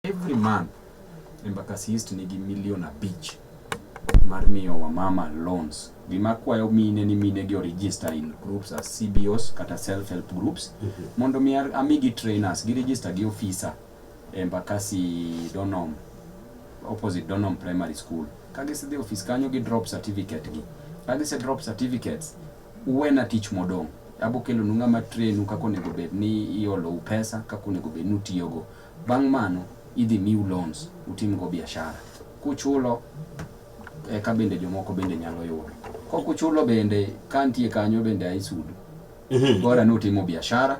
every month Embakasi East nigi milion abich mar miyo wamama loans. Gima akwayo mine ni mine gi register in groups as CBOs kata self help groups mm -hmm. mondo mi amigi trainers gi register gi officer Embakasi Donom opposite Donom Primary School. Ka gisedhi office kanyo gi drop certificate gi. Ka gise drop certificates uwena tich modong' abokelo nu ng'ama trainu kaka onego bed ni iolou pesa kaka onego bed ni utiyogo Bang' mano, idhi miu loans utimgo biashara. Kuchulo, eka bende jomoko bende nyalo yudo. Kok uchulo bende, ka antie kanyo bende aisudu. Mhm. Bora ni utimo biashara,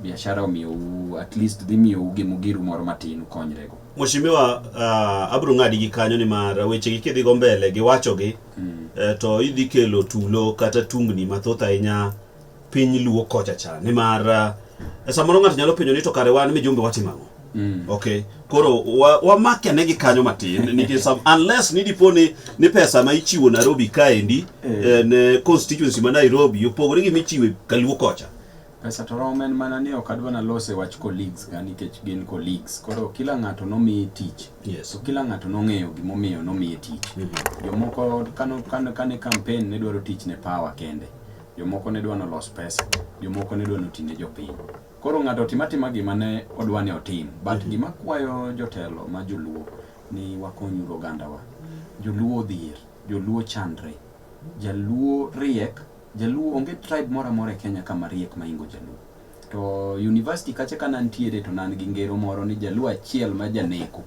biashara omiyou, at least dhi miyou gimugiru moro matin ukonyrego. Mheshimiwa, uh, abro ng'adi gi kanyo ni mar weche gi kidhi go mbele gi wacho gi, eh, to idhi kelo tulo kata tungni mathoth ahinya piny luo kocha cha nimar uh, samoro ng'ato nyalo penjo ni to kare wan mijumbe watimo ang'o Mm. Okay. Koro wamake wa negi kanyo matin nikech some unless ni dipo ni ni pesa ma ichiwo Nairobi kaendi eh. eh, ne constituency ma Nairobi opogore gi michiwe Kaluo kocha. Pesa to romo en mana ni ok adwa nalose wach colleagues ka nikech gin colleagues. Koro kila ng'ato nomiye tich. Yes. So kila ng'ato nong'eyo gimomiyo nomiye tich. Mm -hmm. Jomoko kano kane campaign ne dwaro tich ne power kende. Jomoko ne dwa ni olos pesa, jomoko ne dwa ni oti ne jopiny. Koro ng'ato otim atima gima ne odwa ni otim. But mhm. gima kwayo jotelo ma joluo ni wakonyuru ogandawa. Joluo odhier, joluo chandre, jaluo riek, jaluo onge tribe moro amora e Kenya kama riek maingo jaluo. To university kacha ka nantiere to nan gi ngero moro ni jaluo achiel ma janeko.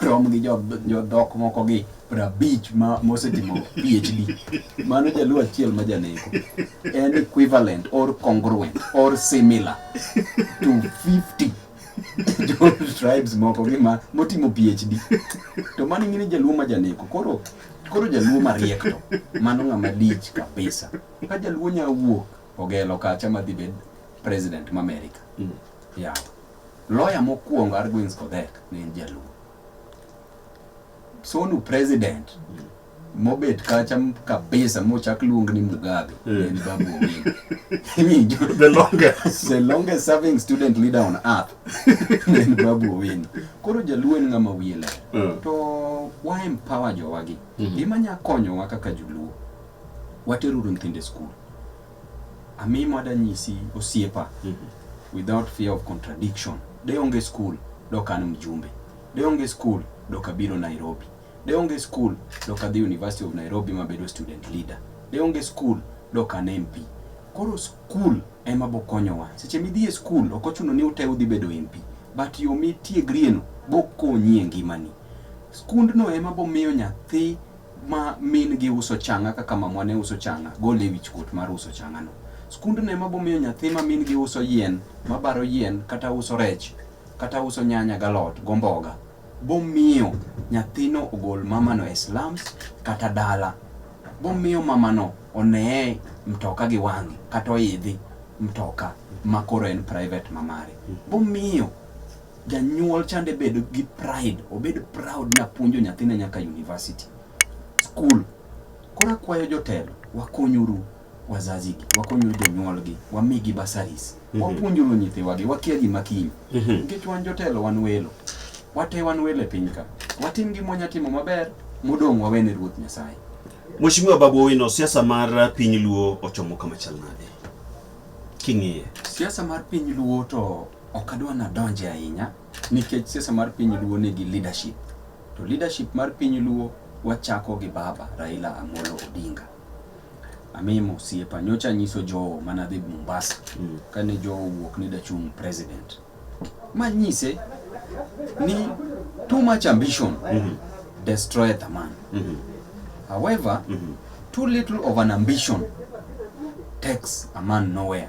rom gi jodhok moko gi prabich ma mosetimo PhD. Mano jaluo achiel ma janeko. En equivalent or congruent or similar to 50 jo tribes moko gi ma motimo PhD. To mano ing'e ni jaluo ma janeko. Koro koro jaluo mariek to mano ng'ama lich kabisa. Ka jaluo nya wuok ogelo kacha madhi bed president ma America. Mm. Yeah. Lawyer mokuongo Arguins Kodhek ne en jaluo. Sonu president mobet kacha kabisa mochak luong ni Mugabe yeah. en Babu Owino. the longest the longest serving student leader on earth en Babu Owino. Koro jaluo en ng'ama wiye ler. Yeah. To wa empower jowagi. Mm -hmm. Gima nya konyowa kaka joluo. Wateruru nyithindo e skul. Amimo adanyisi osiepa without fear of contradiction. De onge school dok an mjumbe. De onge school dok abiro Nairobi. De onge school dok adhi University of Nairobi mabedo student leader. De onge school dok an MP. Koro school ema bokonyowa. Seche midhi e school ok ochuno ni ute udhi bedo MP. But yo mitiegrieno bokonyi e ngimani. Skundno ema bomiyo nyathi ma min gi uso changa kaka mamwa ne uso changa, gol e wich kuot mar uso changa no. Skund ne ma bomiyo nyathi ma min gi uso yien, ma baro yien, kata uso rech, kata uso nyanya galot, gomboga, bomiyo nyathino ogol mamano e slums kata dala. Bomiyo mamano oneye mtoka gi wang'e, kata oidhi mtoka ma koro en private mamare. Bomiyo Janyuol chande bedo gi pride, obed proud ni apuonjo nyathina nyaka university. School. Koro akwayo jotelo, wakonyuru wazazi gi, wakonyuru jonyuol gi, wamigi basaris. Mm -hmm. Wapuonjuru nyithiwa gi, wakia gima kiny. Mm -hmm. Nikech wan jotelo wan welo. Wate wan welo e piny ka. Watim gima wanyatimo maber, modong' wawene Ruoth Nyasaye. Mheshimiwa Babu Owino, siasa mar piny Luo ochomo kama chal nade? King'iye. Siasa mar piny Luo to Ok adwa nadonje ahinya nikech siasa mar piny Luo nigi leadership. To leadership mar piny Luo wachako gi baba Raila Amolo Odinga. Amimo siepa nyocha nyiso Joe mana dhi Mombasa mm. kane Joe wuok ni dachung president. Ma nyise ni too much ambition mm -hmm. destroy the man. Mm -hmm. However, mm -hmm. too little of an ambition takes a man nowhere.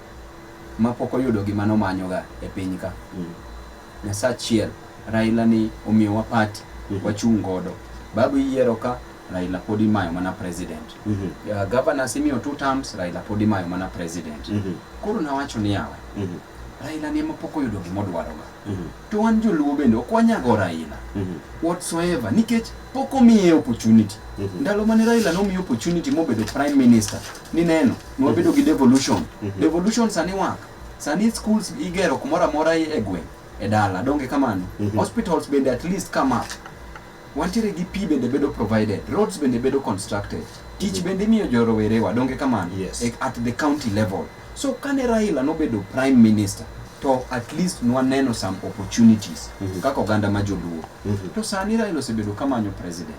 mapok oyudo gima nomanyoga e piny ka. Nyasaye achiel, Raila ni omiyowa party, wachung' godo. Babu iyiero ka, Raila pod imayo mana president. Uh, governors imiyo two terms, Raila pod imayo mana president. Koro nawacho ni yawa, Raila ni ema pok oyudo gima odwaroga. Mm -hmm. To wan joluo bende ok wanyago Raila mm -hmm. whatsoever nikech pok omiye opportunity mm -hmm. ndalo mane Raila nomiye opportunity mobedo prime minister ni neno nwabedo gi devolution mm -hmm. devolution sani wak sani schools igero kumoro amora e gweng' e dala donge kamano mm -hmm. hospitals bende at least come up Wantiere gi pi bende bedo provided, roads bende bedo constructed, tich bende imiyo jo rowerewa, donge kamano? Yes. E- At the county level. So kane Raila nobedo prime minister, to at least nwaneno some opportunities kaka oganda ma joluo. To sani Raila osebedo kamanyo president.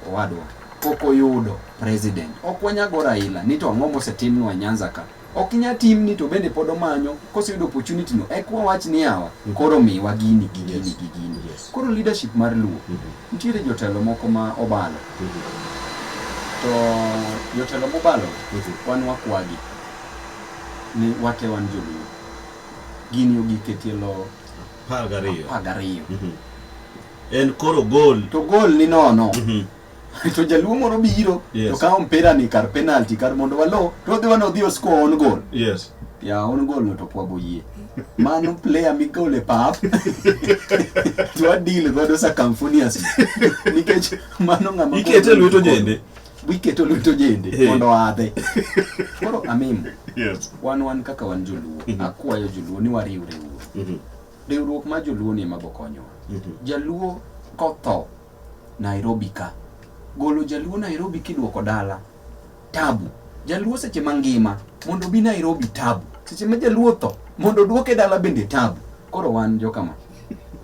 Owadwa, pok oyudo president. Ok wanyago Raila ni to ang'o mosetimnwa e Nyanza ka. ok nya timni to bende pod omanyo koseyudo opportunity no ek wawach ni awa mm. koro miwa gini gi gini yes. gi gini yes. koro leadership mar luo mm -hmm. nitiere jotelo moko ma obalo mm -hmm. to jotelo mobalo mm -hmm. wan wakwagi ni wate wan joluo gini ogiketie lo apar gariyo mm -hmm. en koro gol to gol ni nono mm -hmm. to jaluo moro biro yes. to kawo mpira ni kar penalty kar mondo walo to odhi wana odhi oscore on goal yes ya on goal no to pwago yie mano player migole pap to adil godo circumfonious nikech mano ng'ama ikete lweto jende wiketo lweto jende hey. mondo adhe koro amim yes. wan wan kaka wan joluo mm -hmm. akwayo joluo ni wariwre wuo mm -hmm. riwruok mar joluo ni ema bokonyowa mm -hmm. jaluo kotho Nairobi ka. Golo jaluo Nairobi kiduoko dala. Tabu. Jaluo seche mangima mondo obi Nairobi tabu. Seche ma jaluo tho mondo oduoke dala bende tabu. Koro wan jokama.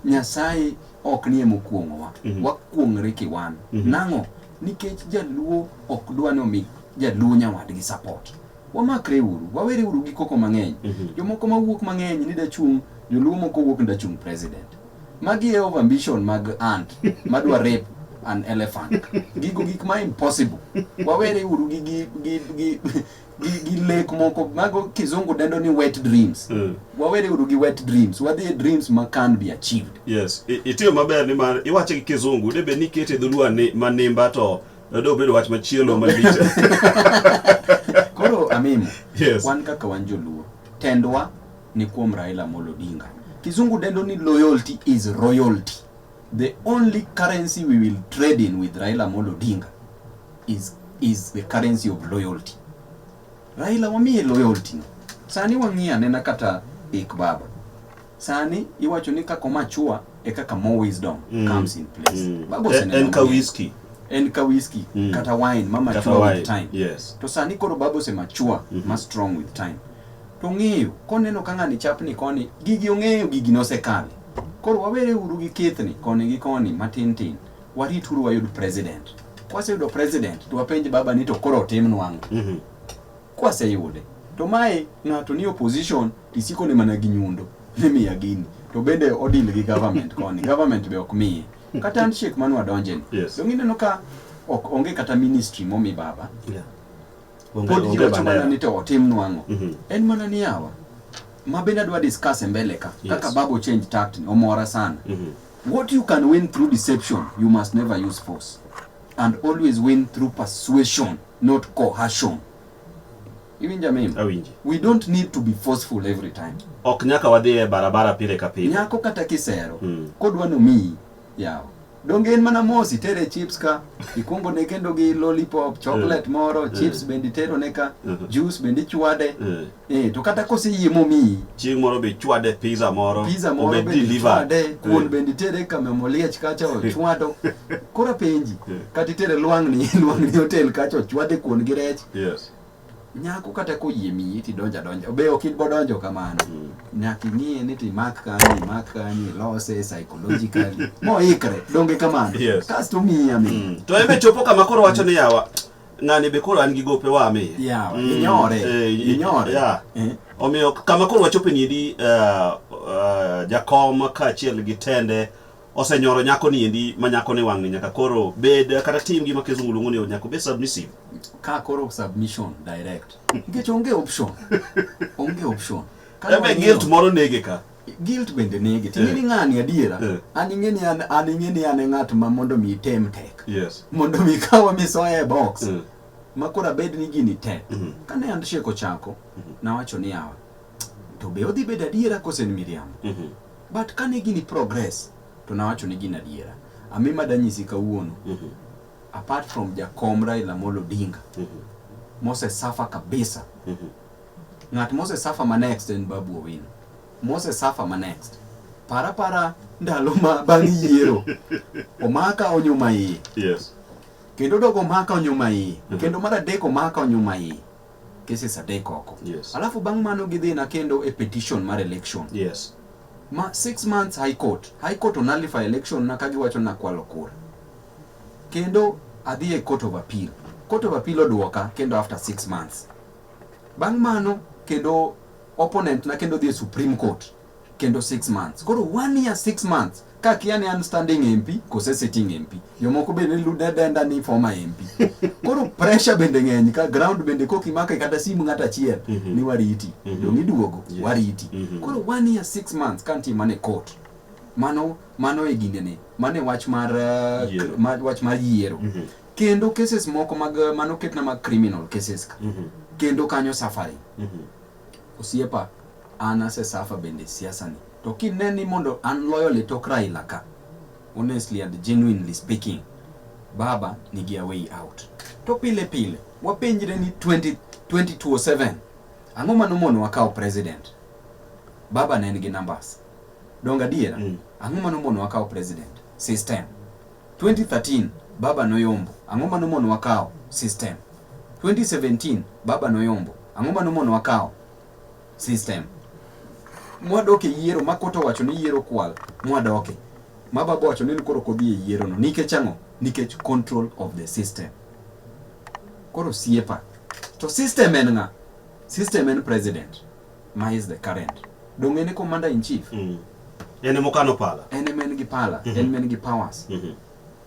Nyasaye ok nie mokuong'owa. Mm -hmm. Wakuong're kiwan. Mm -hmm. Nang'o? Nikech jaluo ok dwa ni omi jaluo nyawadgi support. Wamakre uru, wawere uru gi koko mang'eny. Mm -hmm. Jomoko mawuok mang'eny ni dachung' joluo moko wuok ni dachung' president. Magi e overambition mag ant madwa rape an elephant. Gigo gik ma impossible. Wawere uru gi gi gi gi gi, gi lek moko mago kizungu dendo ni wet dreams. Mm. Wawere uru gi wet dreams. Wadhi e dreams ma can be achieved. Yes, I- itiyo maber ni mar iwache gi kizungu de bed ni ikete dholuo ani- manimba to do bedo wach machielo malich. Koro amimo. Yes. Wan kaka wan joluo. Tendwa ni kuom Raila Amolo Odinga. Kizungu dendo ni loyalty is royalty. The only currency we will trade in with Raila Amolo Odinga is, is the currency of loyalty. Raila wamiye loyalty no. Sani wang'iye anena kata ik baba. Sani iwacho ni kako machua e kaka more wisdom mm. comes in place. Mm. Baba eh, en ka whisky en ka whisky mm. kata wine ma mature with time. Yes. To sani koro baba ose mature mm -hmm. ma strong with time. to ong'eyo koneno ka ng'ani chapni koni gigi ong'eyo gigi nosekale koro wawere uru gi kithni koni gi koni matin tin warit uru wayud president kwaseyudo president to wapenj baba ni to koro otimnwa ang'o Mhm. kwaseyude to mae ng'ato ni opposition tisiko ne mana gi nyundo nimiya gini to bende odil gi government koni government be ok miye kata handshake mane wadonjeni Yes. donge ineno ka ok onge kata ministry momi baba Yeah. pod ji wacho mana ni to otim nwang'o mhm. en mana ni yawa ma bende adwa discuss e mbele ka kaka babo change tact ni omora sana mhm. what you can win through deception you must never use force and always win through persuasion not coercion iwinja mimi awinji we don't need to be forceful every time ok nyaka wadhi e barabara pile ka pile nyako kata kisero mm. kodwa nomiyi Yawa. Donge en mana mos itere chips ka, ikwongo ne kendo gi lollipop, chocolate moro, chips bende itero ne ka, Mhm. juice bende ichwade. Eh. Eh, to kata koseyie momiyi, Chieng' moro be chwade pizza moro. pizza moro obed bende delivered. ichwade, kuon Eh. bende itere ka Memo Liech kacha ochwado. Koro apenji, Eh. kata itere lwang'ni, lwang'ni hotel kacha ochwade kuon gi rech. Yes. nyako kata koyie miyi ti donja donja be ok ibo donjo kamano mm. nyaka ing'e ni ti mak kanyi mak kanyi lose psychologically moikre donge kamano yes. kasto miyi ami mm. to ebe chopo kama koro wacho ni yawa ng'ani be koro an gi gope wa mi yeah, mm. inyore eh, inyore yeah. eh. omiyo kama koro wachope ni di uh, eh, uh, eh, jakom kaachiel gi tende osenyoro nyako ni endi ma nyako ni wang'e nyaka koro bed kata tim gima kizungu luongo ni nyako bed submissive ka koro submission direct nikech onge option onge option ebe guilt moro nege ka guilt bende nege to ing'eni eh. ng'ani adiera eh. an ing'eni an an ing'eni an e ng'at ma mondo mi item tek yes mondo mi kawa misoya e box eh. ma koro abed ni gini tek mm-hmm. kane handshake ochako mm-hmm. nawacho ni yawa to be odhi bedo adiera kose en miriambo mm -hmm. but kane gini progress to nawacho ni gin adiera ami madanyisi kawuono mm -hmm. apart from jakom Raila Amolo Odinga mm -hmm. Mose Safa kabisa mm -hmm. ng'at Mose Safa ma next en Babu Owino Mose Safa ma next para para ndalo ma bang' yiero omaka onyuma iye yes. kendo dogo omaka onyuma iye mm -hmm. kendo mar adek omaka onyuma iye cases adek oko yes. alafu bang' mano gidhi na kendo e petition mar election yes. ma six months high court high court onullify election na kagiwacho na kwalo kura kendo adhi e court of appeal court of appeal odwoka kendo after six months bang' mano kendo opponent na kendo dhi e supreme court kendo 6 months. Koro 1 year 6 months ka kia ni an standing MP kose sitting MP. Jomoko be ne luda denda ni former MP. Koro pressure bende ng'eny ka ground bende koki maka kata simu ng'ata achiel mm -hmm. ni wariti. Mm -hmm. Dongi duogo yes. wariti. Mm -hmm. Koro 1 year 6 months kan ti mane court. Mano mano e gine ne. Mane wach mar uh, yeah. ma, wach mar yiero. Mm -hmm. Kendo cases moko mag uh, mano ketna mag criminal cases ka. Mm -hmm. Kendo kanyo suffering. Mm -hmm. Osiepa an ase suffer bende siasa ni to kine ni mondo an loyally tok Raila ka honestly and genuinely speaking baba nigi a way out to pile pile wapenjre ni 20, 2027 ang'o mano mono wakawo president baba ne en gi numbers donga diera mm. ang'o mano mono wakawo president system 2013 baba noyombo ang'o mano mono wakawo system 2017 baba noyombo ang'o mano mono wakawo system mwadoke yiero ma koto wacho ni yiero kwal mwadoke ma baba wacho ni koro kodhi e yiero no nikech ang'o nikech control of the system koro siepa to system en ng'a system en president Ma is the current. Donge en e commander in chief? Mm. En ema okano pala. En ema en gi pala, mm -hmm. en ema en gi powers. Mm -hmm.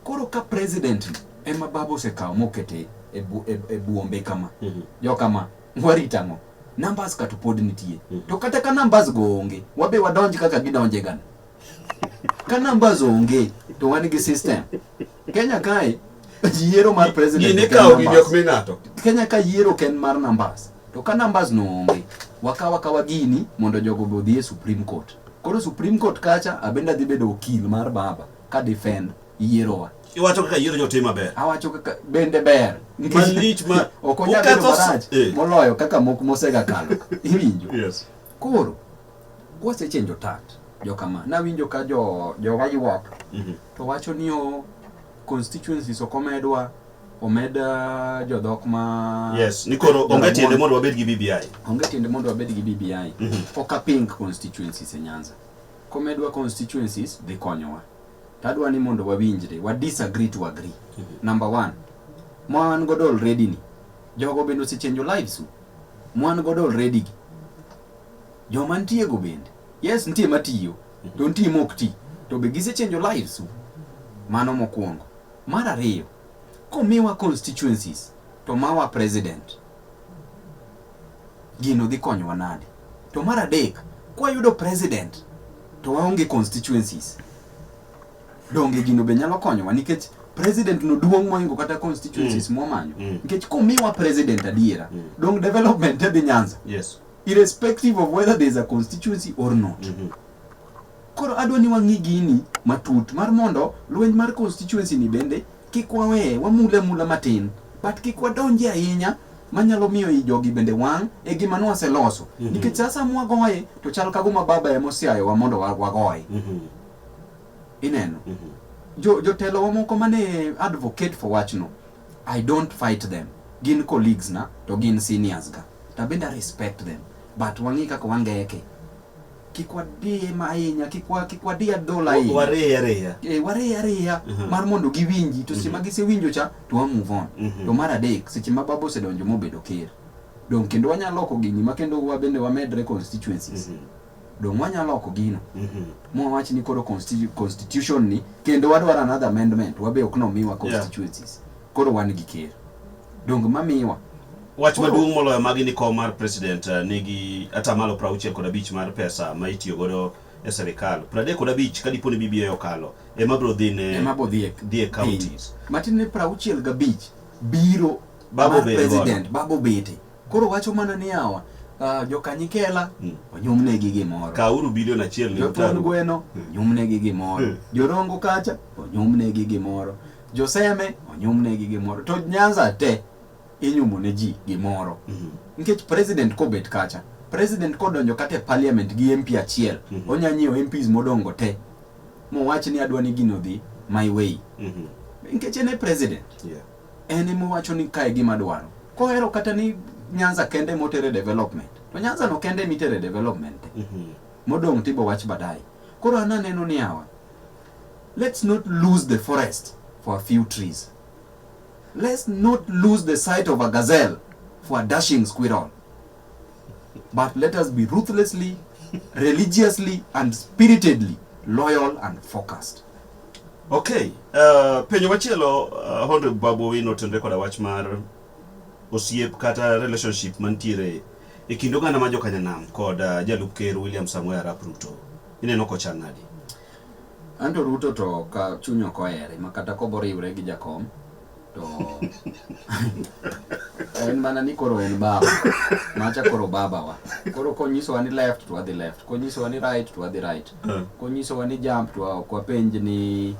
Koro ka president ema baba osekawo mokete e, bu, e, e buombe kama. Mm -hmm. Jo kama, warita ang'o? Numbers ka to pod nitie. Mm -hmm. To kata ka numbers go onge, wabe wadonj kaka gidonje gana. Ka numbers onge to wan gi system. Kenya kae yiero mar president. Gini kawo gini ok mi ng'ato. Kenya ka yiero ken mar numbers. To ka numbers no onge, wakawa kawa gini mondo jogo be odhi e Supreme Court. Koro Supreme Court kacha abende adhi bedo okil mar baba ka defend yierowa. Iwacho kaka yiero jotim maber. Awacho kaka bende ber. Malich ma ok onyal bedo marach eh. moloyo kaka moko mosega kalo. Iwinjo? Yes. Koro Kwasechenjo tat, jokama, nawinjo ka jo, jowa ywak, Mhm. to wacho ni o constituencies ok omedwa, omed ah, jodhok ma... Yes, ni koro onge Jaramogi. tiende mondo wabed gi BBI. onge tiende mondo wabed gi BBI Mhm. ok aping constituencies e Nyanza komedwa constituencies dhi konyowa to adwa ni mondo wawinjre wa disagree to agree number one ma wan godo already ni jogo bende osechenjo lives u. ma wan godo already gi Joma ntiego bende. Yes, ntie matiyo, to ntie mok ti. To be gisechenjo lives u? Mano mokwongo. Mar ariyo, komiwa constituencies to mawa president, gino dhi konyowa nade? To mar adek, kwayudo president to waonge constituencies, Donge gino be nyalo konyowa nikech president no duong' moingo kata constituencies mm. mwamanyo mm. nikech komiwa president adiera mm. dong development te dhi Nyanza yes. irrespective of whether there is a constituency or not mm -hmm. koro adwa ni wang'i gini matut mar mondo lweny mar constituency ni bende kik waweye wamule mula matin but kik wadonje ahinya manyalo miyo i jogi bende wang' e gima nwaseloso mm -hmm. nikech sasa mwagoye to chal kaguma baba emosiayowa mondo wagoye mm -hmm. Ineno? Mm -hmm. Jo, jotelo wa moko mane advocate for wachno, I don't fight them. Gin colleagues na, to gin seniors ga. To bende I respect them. But wang'i kaka wangeke. Kik wadie ma ahinya, kik wa kik wadie dola ahinya. Wariye ariya. Eh, wariye ariya mm -hmm. mar mondo giwinji to mm -hmm. sima gisewinjo cha to wa move on. Mm -hmm. To mar adek, seche ma babo osedonjo mobedo ker. Don kendo wanyalo loko gini ma kendo wabende wamedre constituencies. Mm -hmm. Donge wanyalo loko gino mwawach ni koro constitution ni kendo wadwaro another amendment wabe ok nomiwa constituencies koro wan gi ker donge mamiwa Wach maduong' moloyo magi ni kom mar president eh, nigi atamalo 60 kod abich mar pesa ma itiyo godo e serikal. 30 kod abich ka dipo ni BBA okalo ema biro dhi ne ema bodhi e dhi e counties. matin ni prauchiel gabich biro Babo mar bede president babo bete Koro wacho mana ni yawa ah, jokanyikela Mm. onyumnegi gimoro Kauru bilion achiel ni jothon utaru. gweno Mm. onyumnegi gimoro Mm. jorongo kacha onyumnegi gimoro joseme onyumnegi gimoro to nyanza te inyumo ne ji gimoro Mhm. nikech president kobet kacha president kodonjo kata e parliament gi mp achiel Mhm. onya nyiewo mps modongo te mowach ni adwa ni gino dhi my way Mhm. nikech en e president Yeah. en ema owacho ni kae gima adwaro. Kohero kata ni Nyanza kende ema otere development, to Nyanza no kende ema itere development. Mhm. Modong' to ibo wach baadaye. Koro an aneno ni yawa, let's not lose the forest for a few trees. Let's not lose the sight of a gazelle for a dashing squirrel. but let us be ruthlessly, religiously, and spiritedly loyal and focused. Okay, uh, penyo machielo uh, Honre Babu Owino tenre koda wach mar osiep kata relationship mantiere e kind oganda ma jokanyanam kod uh, jalup ker William Samoei Arap Ruto ineno kochal nadi? Anto Ruto to ka chuny ok ohere ma kata koboriwre gi jakom to en mana ni koro en baba macha koro baba wa koro konyisowa ni left to wadhi left konyisowa ni right to wadhi right eh. konyisowa ni jump to ok wapenj ni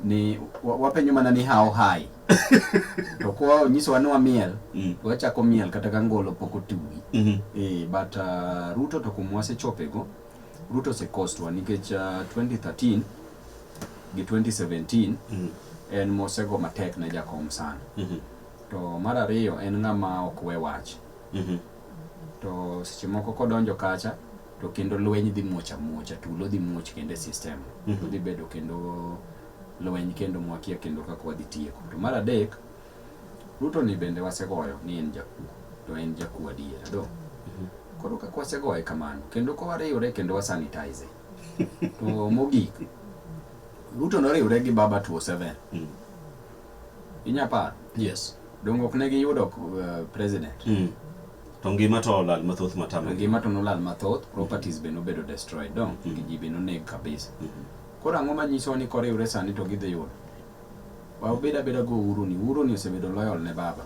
ni wapenjo mana ni how high to kwa onyisowa ni wamiel mm. to wachako miel kata ka ngolo pok otuwi mm-hmm. eh, but uh, ruto to kuma wasechopego ruto osekostwa nikech uh, 2013 gi 2017 mm. en mosego matek ne jakom sana mm -hmm. to mar ariyo en ng'ama ok we wach mm -hmm. to seche moko kodonjo kacha to kendo lweny dhi muoch amuocha tulo dhi muoch kendo e system mm -hmm. dhi bedo kendo lweny kendo mwakia kendo kaka wadhi tieko to mar adek Ruto ni bende wasegoyo ni en jakuo to en jakuo adier do mm -hmm. koro kaka wasegoye kamano kendo kowariwre kendo wasanitize to mogik Ruto noriwre gi Baba 27 mm. inya par yes dongo ok ne giyudo uh, president mm. to ngima to olal mathoth matama ngima to nolal mathoth properties mm. be nobedo destroyed dong mm. ji be noneg kabisa mm -hmm. koro ang'o manyiso ni koriwre sani to gidhi yudo Wa ubed abeda go uhuru ni. Uhuru ni osebedo loyal ne baba.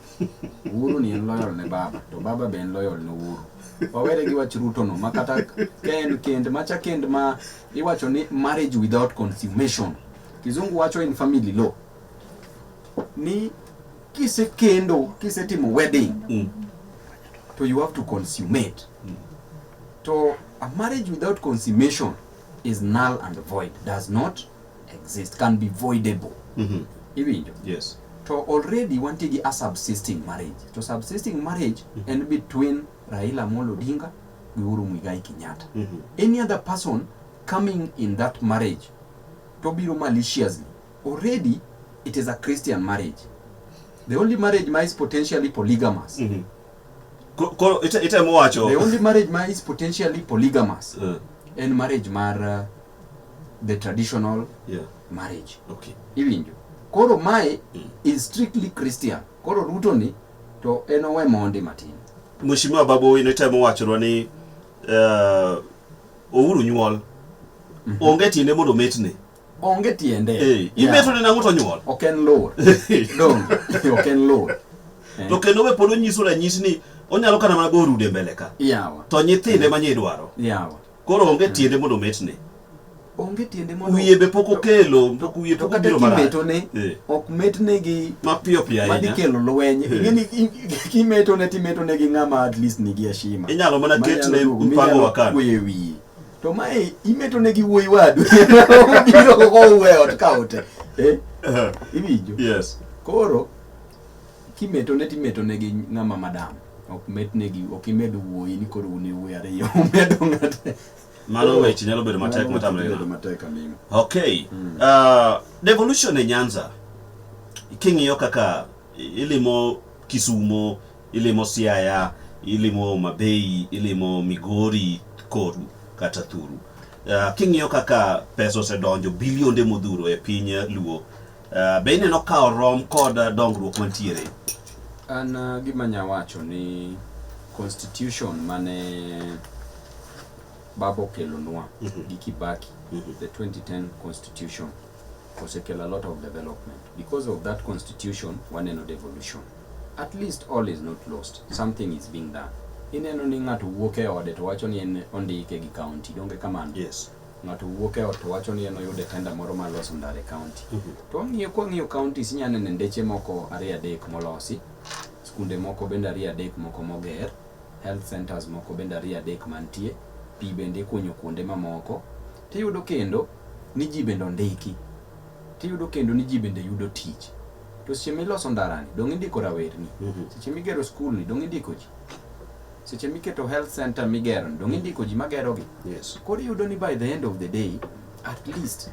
Uhuru ni en loyal ne baba. To baba be en loyal ne uhuru. Wawere gi wach Ruto no. Ma kata ken kend macha kend ma iwacho ni marriage without consummation. Kizungu wacho in family law. Ni kise kendo, kise timo wedding. Mm. To you have to consummate. Mm. To a marriage without consummation is null and void. Does not exist can be voidable mm -hmm. iwinjo yes to already wantie gi a subsisting marriage to subsisting marriage mm -hmm. en between Raila Amolo Odinga gi Uhuru Muigai Kenyatta mm -hmm. any other person coming in that marriage to biro maliciously already it is a Christian marriage the only marriage ma is potentially polygamous mm -hmm. Koro ite ite mowacho the only marriage ma is potentially polygamous uh. en marriage mar uh, the traditional yeah. marriage okay. iwinjo koro mae mm. is strictly christian koro ruto ni to en owe mondi matin mheshimiwa babu ino itemo wachonwa ni uh, ouru nyuol mm -hmm. onge tiende mondo metne onge tiende hey, eh, imeto yeah. nang'o to nyuol ok en lor dong ok en lor eh. to kendo be pod onyiso ranyisi ni onyalo kana mana go rude mbele ka yawa to nyithinde yeah. manye idwaro yawa Koro onge hmm. tiende mondo ometne. Onge tiende mondo wiye be pok okelo, pok wiye pok obiro marach. Kimeto ne eh. ok metne gi mapiyo piyo ahinya. Madi kelo lweny. Eh. Ingeni kimeto ne timeto ne gi ng'ama at least nigi ashima. Inyalo mana ketne mpango wakati. Wiye wiye. To mae imeto ne gi wuoyi wadu. Obiro ko uwe ot kaote. Eh? eh. Iwinjo? Yes. Koro Kimetone to imetone gi ng'ama madam. Ok metnegi, ok imed wuoyi ni koro un e wuoyi ariyo, umedo ng'ate. Mano weche nyalo bedo matek Mano matamre bedo ng'ano. matek aming'a. Okay. Uh, devolution e Nyanza. King'iyo kaka ilimo Kisumo, ilimo Siaya, ilimo Homa Bay, ilimo Migori, Koru kata Thuru. Uh, king'iyo kaka pesa osedonjo bilionde modhuro e piny Luo Uh, be ineno ka orom kod uh, dongruok mantiere? An uh, gima nya wacho ni constitution mane baba okelonwa mm -hmm. gi Kibaki mm -hmm. the 2010 constitution osekelo a lot of development because of that constitution waneno devolution at least all is not lost something is being done ineno ni ng'ato wuok e ode to wacho ni en ondike gi county donge kamano yes. ng'ato wuok e ot wacho ni en oyude tenda moro ma loso ndare county mm -hmm. to wang'iyo kwa ng'iyo county sinya nene ndeche moko ariyo adek molosi skunde moko bende ariyo adek moko moger health centers moko bende ariyo adek mantie pi bende ikunyo kuonde mamoko tiyudo kendo ni ji bende ondiki tiyudo kendo ni ji bende yudo tich to seche miloso ndarani dong' indiko rawerni mm -hmm. seche migero skulni dong' indiko ji seche miketo health center migero donge mm. indiko ji magerogi yes. koro iyudo ni by the end of the day at least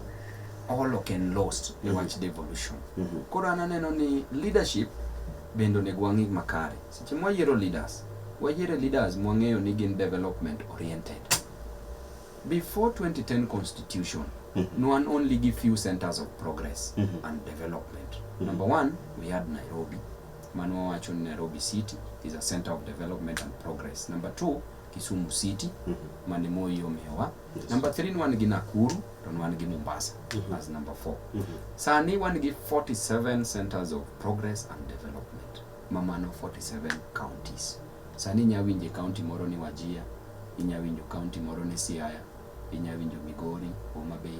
all ok en lost mm -hmm. wach devolution mm -hmm. koro an aneno ni leadership bende onego wang'i makare seche mwayiero leaders wayiere leaders mwang'eyo ni gin development oriented before 2010 constitution mm -hmm. no one only give few centers of progress mm -hmm. and development mm -hmm. number one we had nairobi Mano wawacho ni Nairobi City is a center of development and progress. Number two, Kisumu City mm -hmm. mane Moi omiyowa. Yes. Number three, wan gi Nakuru to wan gi Mombasa mm -hmm. as number four. Mm -hmm. Sani wan gi 47 centers of progress and development ma mano 47 counties. Sani inya winje county moro ni Wajia, inya winjo county moro ni Siaya, inya winjo Migori, Homa Bay,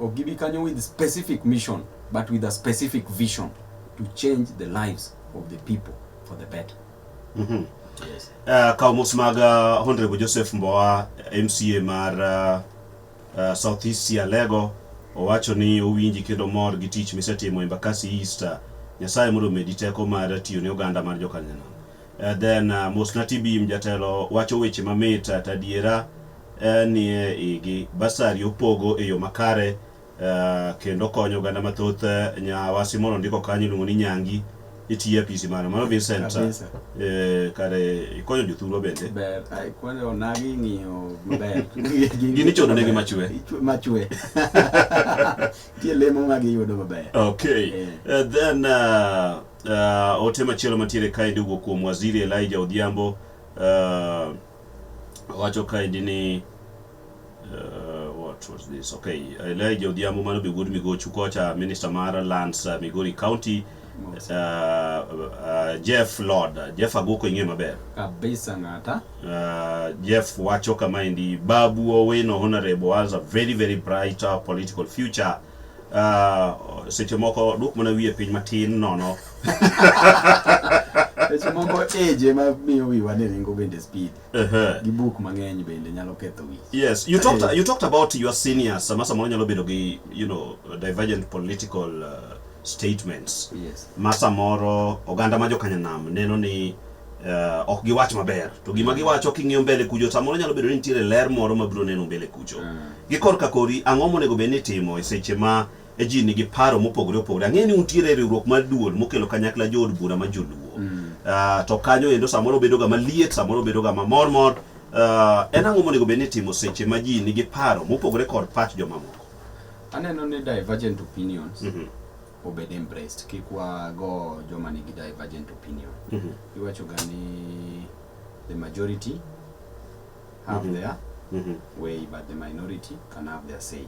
Ok gibi kanyo with specific mission but with a specific vision to change the lives of the people for the better. Mm -hmm. Yes. Uh, kaw mos mag uh, Honorable Joseph Mbowa MCA mar uh, uh, South East Sialego owacho ni owinji kendo mor gi tich misetimo Embakasi East. Nyasaye mondo omedi teko mar tiyo ne oganda mar Jokanyanam. Uh, then uh, Mosna Tibim jatelo wacho weche mamit uh, tadiera uh, nie igi basari opogo e yo makare uh, kendo konyo oganda mathoth uh, nyawasi moro ndiko kanyo iluongo ni Nyangi itiye apisi mano mano Vincent eh, kare ikonyo jothurwa bende ber ai kwale onagi ng'iyo maber gini chodo negi machwe machwe tie lemo ma giyudo maber okay yeah. uh, then uh, Uh, ote machielo mantiere kaendi owuok kuom waziri Elijah Odhiambo uh, wacho kaendi ni uh, what was this okay Elijah Odhiambo mano be wuod Migochu kocha minister mar lands uh, Migori County uh, uh, Jeff Lord Jeff Agoko ing'e maber kabisa ng'ata uh, Jeff wacho kama indi Babu Owino honorable has a very very bright uh, political future Ah, seche moko duok mana wiye piny matin nono Seche moko age ema miyo wiwa ni ringo bende speed. Ehe. Gi buk mang'eny bende nyalo ketho wich. Yes, you talked Eh. you talked about your seniors. Sama samoro nyalo bedo gi you know divergent political uh, statements. Yes. Ma samoro oganda ma jokanyanam neno ni uh, ok giwach maber to gima giwacho king'iyo mbele kucho samoro nyalo bedo ni nitiere ler moro mabiro neno mbele kucho mm. gi korka kori ang'o monego bed ni timo e seche ma e ji nigi paro mopogore opogore ang'e ni untiere e riwruok mar duol mokelo kanyakla jood bura ma joluo mm. uh, to kanyo endo samoro bedoga maliet samoro bedoga mamor mor uh, en ang'o monego bed ni timo seche ma ji nigi paro mopogore kod pach jomamoko aneno ni divergent opinions mm -hmm. obed embraced kik wago joma nigi divergent opinion mm -hmm. iwachoga ni the majority have mm -hmm. their mm -hmm. way but the minority can have their say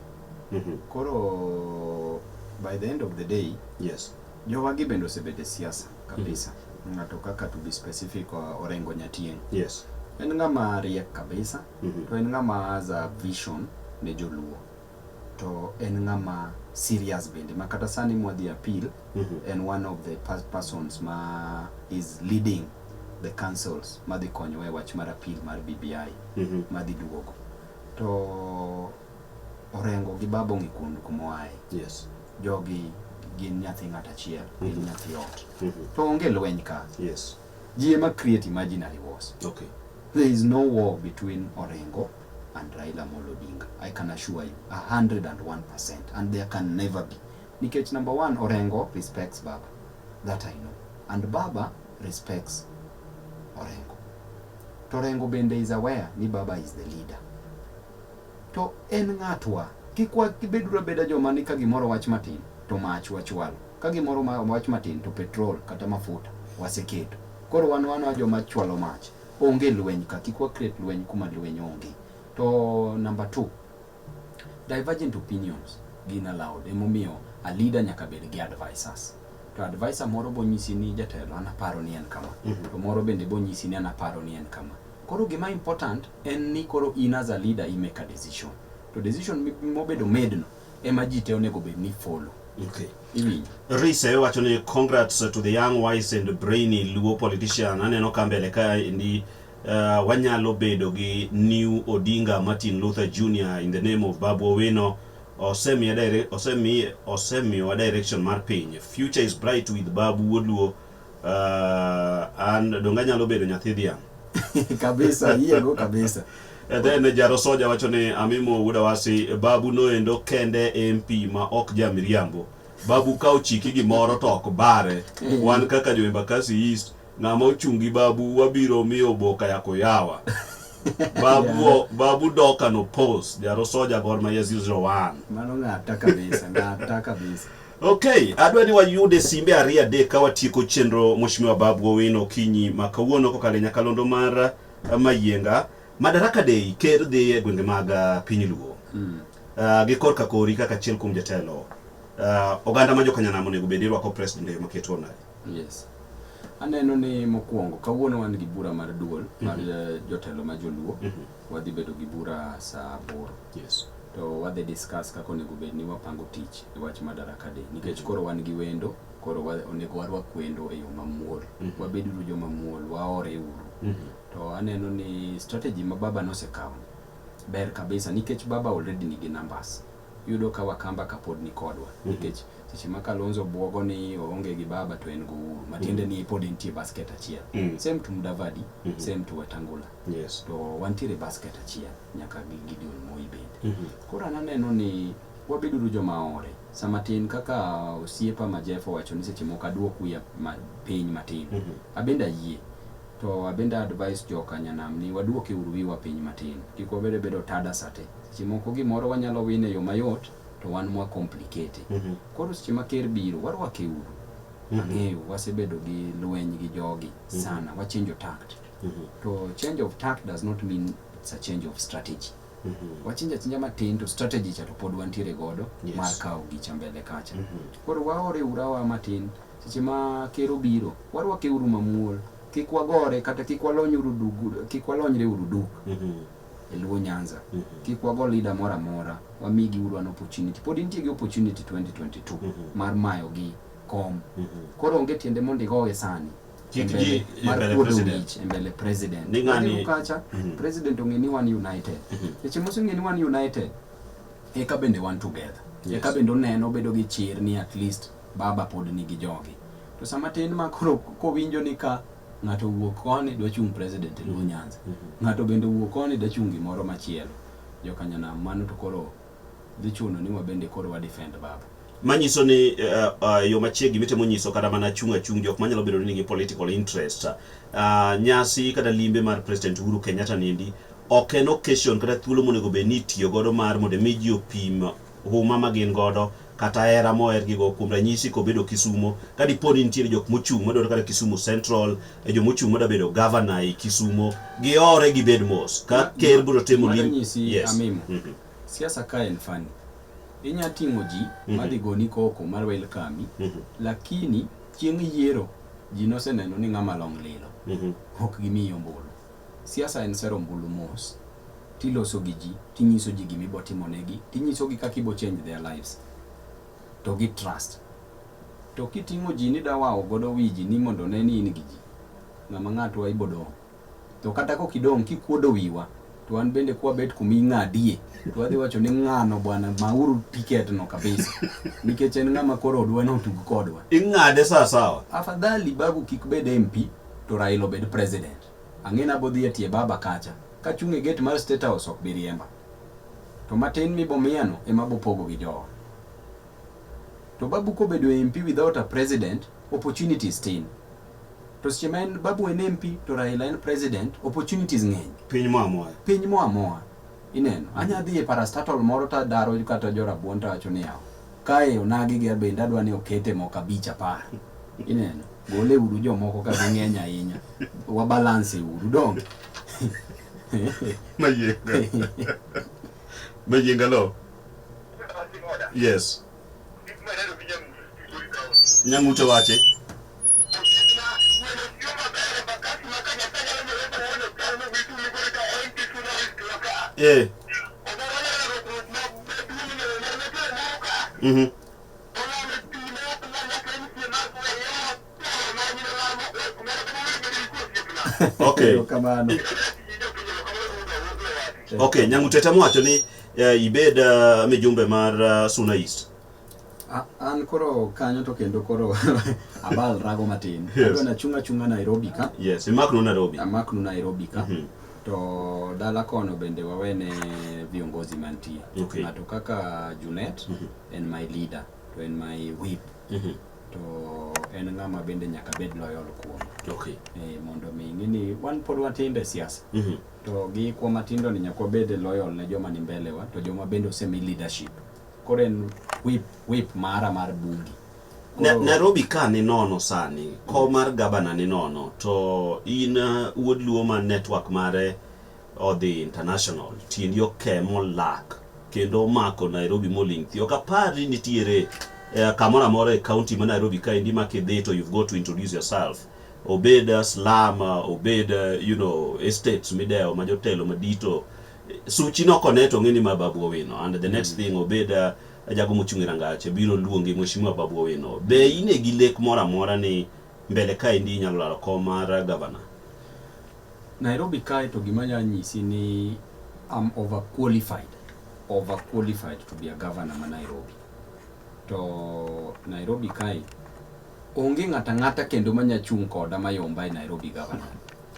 mm -hmm. koro by the end of the day yes jowagi bende osebede siasa kabisa mm -hmm. ng'ato kaka to be specific uh, orengo nyatien yes en ng'ama riek kabisa mm -hmm. to en ng'ama za vision ne joluo to en ng'ama serious bende ma kata sani mwadhi appeal mm -hmm. en one of the persons ma is leading the councils madhi konyowa e wach mar appeal mar BBI mm -hmm. madhi duogo to Orengo gi baba ong'e kuond kumoaye yes. jogi gin nyathi ng'at achiel mm -hmm. gin mhm. nyathi ot mm -hmm. to onge lweny ka yes. Ji ema create imaginary wars. Okay. There is no war between Orengo and Raila Amolo Odinga. I can assure you 101% and there can never be. Nikech number one, Orengo respects Baba. That I know. And Baba respects Orengo. To Orengo bende is aware ni Baba is the leader. To en ng'atwa kik wabeduru abeda joma ni ka gimoro wach matin to mach wachwalo. Ka gimoro ma wach matin to petrol kata mafuta waseketo. Koro wan wana joma chwalo mach. Onge lweny ka, kik wa create lweny kuma lweny onge. To number two, divergent opinions gin allowed. Emomiyo a leader nyaka bed gi advisers. To adviser moro bonyisi ni jatelo an aparo ni en kama. To moro bende bonyisi ni an aparo ni en kama. Koro gima important en ni koro in as a leader i make a decision. To decision mobedo made no ema ji te onego bed ni follow Okay. Iwinjo. Rise wacho ni congrats to the young wise and brainy Luo politician. Aneno ka mbele ka ndi uh, wanyalo bedo gi New Odinga Martin Luther Jr in the name of Babu Owino. Osemiye dire, osemiye osemiyo direction mar piny. Future is bright with Babu Wodluo. Uh, an donge anyalo bedo nyathi dhiang'? kabisa yiego kabisa And then Jaro Soja wacho ni Amimo wuda wasi babu noendo kende MP ma ok ja miriambo. Babu ka ochiki gimoro to ok bare. Mm. Wan kaka jo Embakasi East ng'ama ochungi babu wabiro miyo boka ya koyawa. Babu yeah. babu doka no post Jaro Soja Gor Mahia 001. Mano ng'ata kabisa, ng'ata kabisa. Okay, adwa ni wayude simbe ariyo adek ka watieko chenro Mheshimiwa Babu Owino Okinyi ma kawuono kokalo e nyakalondo mar eh, Mayienga. Madaraka Day ker dhi e gwenge mag eh, piny Luo mm. uh, gi korka kori kaka achiel kuom jatelo uh, oganda ma jokanyanam onego bed irwako president e yo maketo nade? Yes. Aneno ni mokwongo kawuono wan gi bura mar duol mar mm -hmm. jotelo ma joluo mm -hmm. wadhi bedo gi bura saa aboro Yes. To wadhi discuss kaka onego bed ni wapango tich e wach Madaraka Day nikech koro wan gi wendo, koro wa, onego warwak wendo e yo mamuol. Mm -hmm. Wabeduru jo mamuol, waore uru. Mm -hmm. To aneno ni strategy ma baba nosekawo ber kabisa nikech baba already nigi numbers. Yudo ka Wakamba kapod ni kodwa mm -hmm. nikech seche ma Kalonzo bwogo ni oonge gi baba to en go uru matiende mm -hmm. ni pod entie basket achiel. Mm -hmm. Same to Mudavadi, mm -hmm. same to Wetangula. Yes. To wantiere basket achiel nyaka gi Gideon Moi bende. Mm -hmm. Koro ananeno ni wabeduru joma ore sama tin kaka osiepa ma Jeff owacho ni seche moko aduok wiya ma piny matin. Mm -hmm. Abende ayie. To abende advice joka nyanam ni waduoke uru wiwa piny matin. Kik wabede bedo tada sate. Seche moko gimoro wanyalo wine yo mayot to wan mwa complicate. Mm -hmm. Koro seche ma ker biro warwake uru. Mm -hmm. Ang'eyo wasebedo gi lweny gi jogi mhm. sana. Mm -hmm. Wachinjo takt. mm -hmm. to change of tact does not mean it's a change of strategy mm -hmm. wachinja chinja matin to strategy cha to pod wantiere godo yes. mar kawo gicha mbele kacha mm -hmm. koro waore urawa matin seche ma kero biro warwake uru mamuol kik wagore kata kik walony uru dugu kik walonyre uru duk mm -hmm. e luo nyanza mm -hmm. kik wago leader mora mora wamigi uru an opportunity pod intie gi opportunity 2022 mm -hmm. mar mayo gi kom mm -hmm. koro onge tiende mondo igowe sani Kikji embele president. Embele president. Ni ngani? Ukacha, mm -hmm. president ungeni one united. Mm -hmm. Eche musu ngeni one united. Eka bende one together. Yes. Eka bende uneno bedo gi chir ni at least baba pod nigi jogi. To sama tin ma koro kowinjo ni ka ng'ato wuok koni dwa chung' president e Luo mhm. Nyanza. Mm -hmm. Ng'ato bende wuok koni dwa chung' gimoro machielo. Jokanyanam mano to koro dhi chuno ni wabende koro wa defend baba manyiso ni uh, uh, yo machiegni mitemo nyiso kata mana chung' achung' jok manyalo bedo ni nigi political interest uh, nyasi kata limbe mar president Uhuru Kenyatta niendi ok en occasion kata thuolo monego bed ni itiyo godo mar mondo mi ji opim huma ma gin godo kata hera mohergigo kuom ranyisi kobedo Kisumo, ka dipo ni nitiere jok mochung' madwaro kata Kisumu Central, e jo mochung' madwa bedo gavana e Kisumo, gihore gibed mos. Ka ker biro timo Gima lim- danyisi Yes. amimo Mhm. siasa ka en fani inya ting'o ji Mhm. madhi goni koko mar welkami Mhm. lakini chieng' yiero ji noseneno ni ng'ama long' lilo Mhm. ok gimiyi ombulu Siasa en sero ombulu mos tiloso gi ji tinyiso ji gima ibo timonegi tinyisogi kaka ibo change their lives to gi trust to kiting'o ji ni dawawo godo wiji ni mondo ne ni in gi ji ng'ama ng'atwa ibo dong' to kata kok idong' kikuodo wiwa to an bende kwabet kuma ing'adie to adhi wacho ni ng'ano bwana mauru tiket no kabisa nikech en ng'ama koro odwa ni otug kodwa ing'ade sawasawa afadhali babu kik bed mp to raila obed president Ang'e ni abodhi e tie baba kacha. Kachung' e gate mar state house ok bi riemba. To matin mibomiyano ema abopogo gi jowa. To babu kobedo e MP without a president, opportunities tin. To seche ma en babu en MP to Raila en president, opportunities ng'eny. Piny mo amoya. Piny mo amoa. Ineno. Anya dhi e parastatal moro to adaro kata jo rabuon to awacho ni yawa. Kae onagi gi abende adwa ni okete moko abich apar. Ineno? Gole uru jomoko ka ging'eny ahinya. Wa balance uru donge. Mayienga. Mayienga lo. Yes. Nyamuto wache. Eh. Mhm. Okay. Okay, nyangu tete mwacho ni uh, ibed uh, mijumbe mar uh, Suna East. An koro kanyo to kendo koro abal rago matin. Yes. Adwa nachung' achung'a Nairobi ka. Yes, imaknu Nairobi. Amaknu Nairobi ka. Mhm. To dala kono bende wawene viongozi mantie. Okay. Ng'ato kaka Junet Mhm. en my leader to en my whip Mhm. to en ng'ama bende nyaka bed loyal kuom Okay. e, mondo mi ing'e ni wan pod watindo e siasa Mhm. to gi kwa matindo ni nyaka wabed loyal ne joma ni mbele wa to joma bende osemi leadership Koro en whip, whip mara mar bungi. Na, Koro- Nairobi ka ni nono sani ko mar gabana ni nono to in uh, wuod luo ma network mare odhi international tiendi oke molak kendo omako Nairobi moling' thi ok apari nitiere eh, kamoro amora e county ma Nairobi ka endi ma kidhi to you've got to introduce yourself obed uh, slum uh, obed uh, you know estates midewo ma jotelo madito suchi noko ne to ng'eni ma babu owino and the next mm. thing obed uh, ajago mochung' e rangache biro luongi mheshimiwa babu owino be in e gi lek moro amora ni mbele kaendi inyalo laro kom mar uh, gavana nairobi kae to gima nya nyisi ni am over qualified over qualified to be a governor ma nairobi to nairobi kae Onge ng'ato ang'ata kendo ma nya chung' koda mayomba e Nairobi Governor.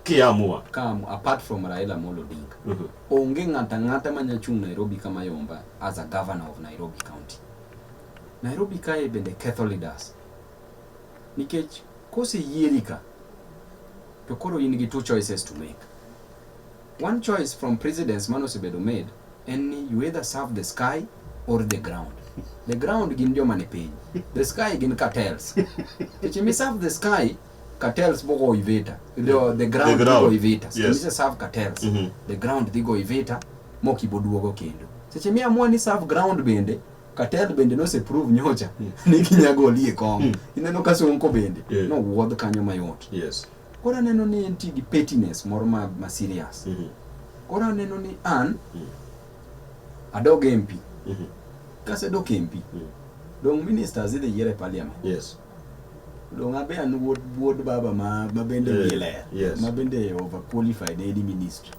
Kiamua. Come apart from Raila Amolo Odinga. Mm -hmm. Onge ng'ato ang'ata ma nya chung' Nairobi ka mayomba as a governor of Nairobi County. Nairobi kae bende ketho leaders. Nikech kose yieri ka to koro in gi two choices to make. One choice from presidents mano osebedo made en ni you either serve the sky or the ground. The ground gin joma ni piny. The sky gin cartels. If you serve the sky, cartels bo go ivita. The, the ground, the ground. go ivita. Yes. Kimisa serve cartels. Mm -hmm. The ground dhi go ivita moki boduogo kendo. Seche mi amua ni serve ground bende cartel bende nose prove nyocha mm. ni kinyago olie kong. Mm. Ineno ka sonko bende. Yeah. No wuodh kanyo mayot. Yes. Koro aneno ni en ti gi pettiness moro ma, ma serious. Mm -hmm. Koro aneno ni an mm -hmm. adog MP. Mm -hmm. Kasedok MP. Mm -hmm. Dong ministers idhi yier e parliament. Yes. Dong abe an wuod wuod baba ma ma bende yeah. ler. Yes. Ma bende over qualified any ministry.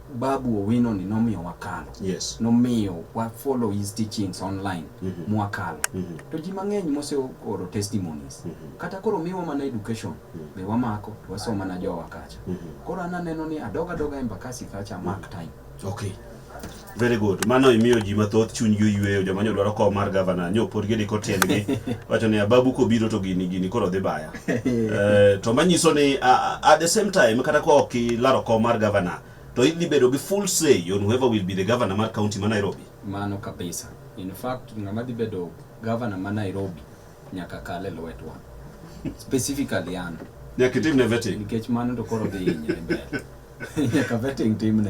Babu Owino ni nomiyo wakalo. Yes. Nomiyo wa follow his teachings online mm -hmm. mwakalo. Mm -hmm. To ji mang'eny mose oro testimonies. Mm -hmm. Kata koro miwa mana education mm -hmm. be wamako to wasomo mana jowa kacha. Mm -hmm. Koro an aneno ni adoga doga embakasi kacha mm -hmm. mark time. Okay. Very good. Mano imiyo ji mathoth chuny gi oyueyo joma nyo dwaro kom mar gavana nyo pod gidiko tiendgi wacho ni ababu kobiro to gini gini koro dhi baya. eh, to manyiso ni uh, at the same time kata ka ok ilaro kom mar governor to idhi bedo gi full say on whoever will be the governor mar county ma Nairobi. Mano kabisa. In fact, ng'ama dhi bedo governor ma Nairobi nyaka kal e lwetwa. Specifically an. Nyaka itimne vetting. Nikech mano to koro dhi hinyre mbele. Nyaka vetting timne.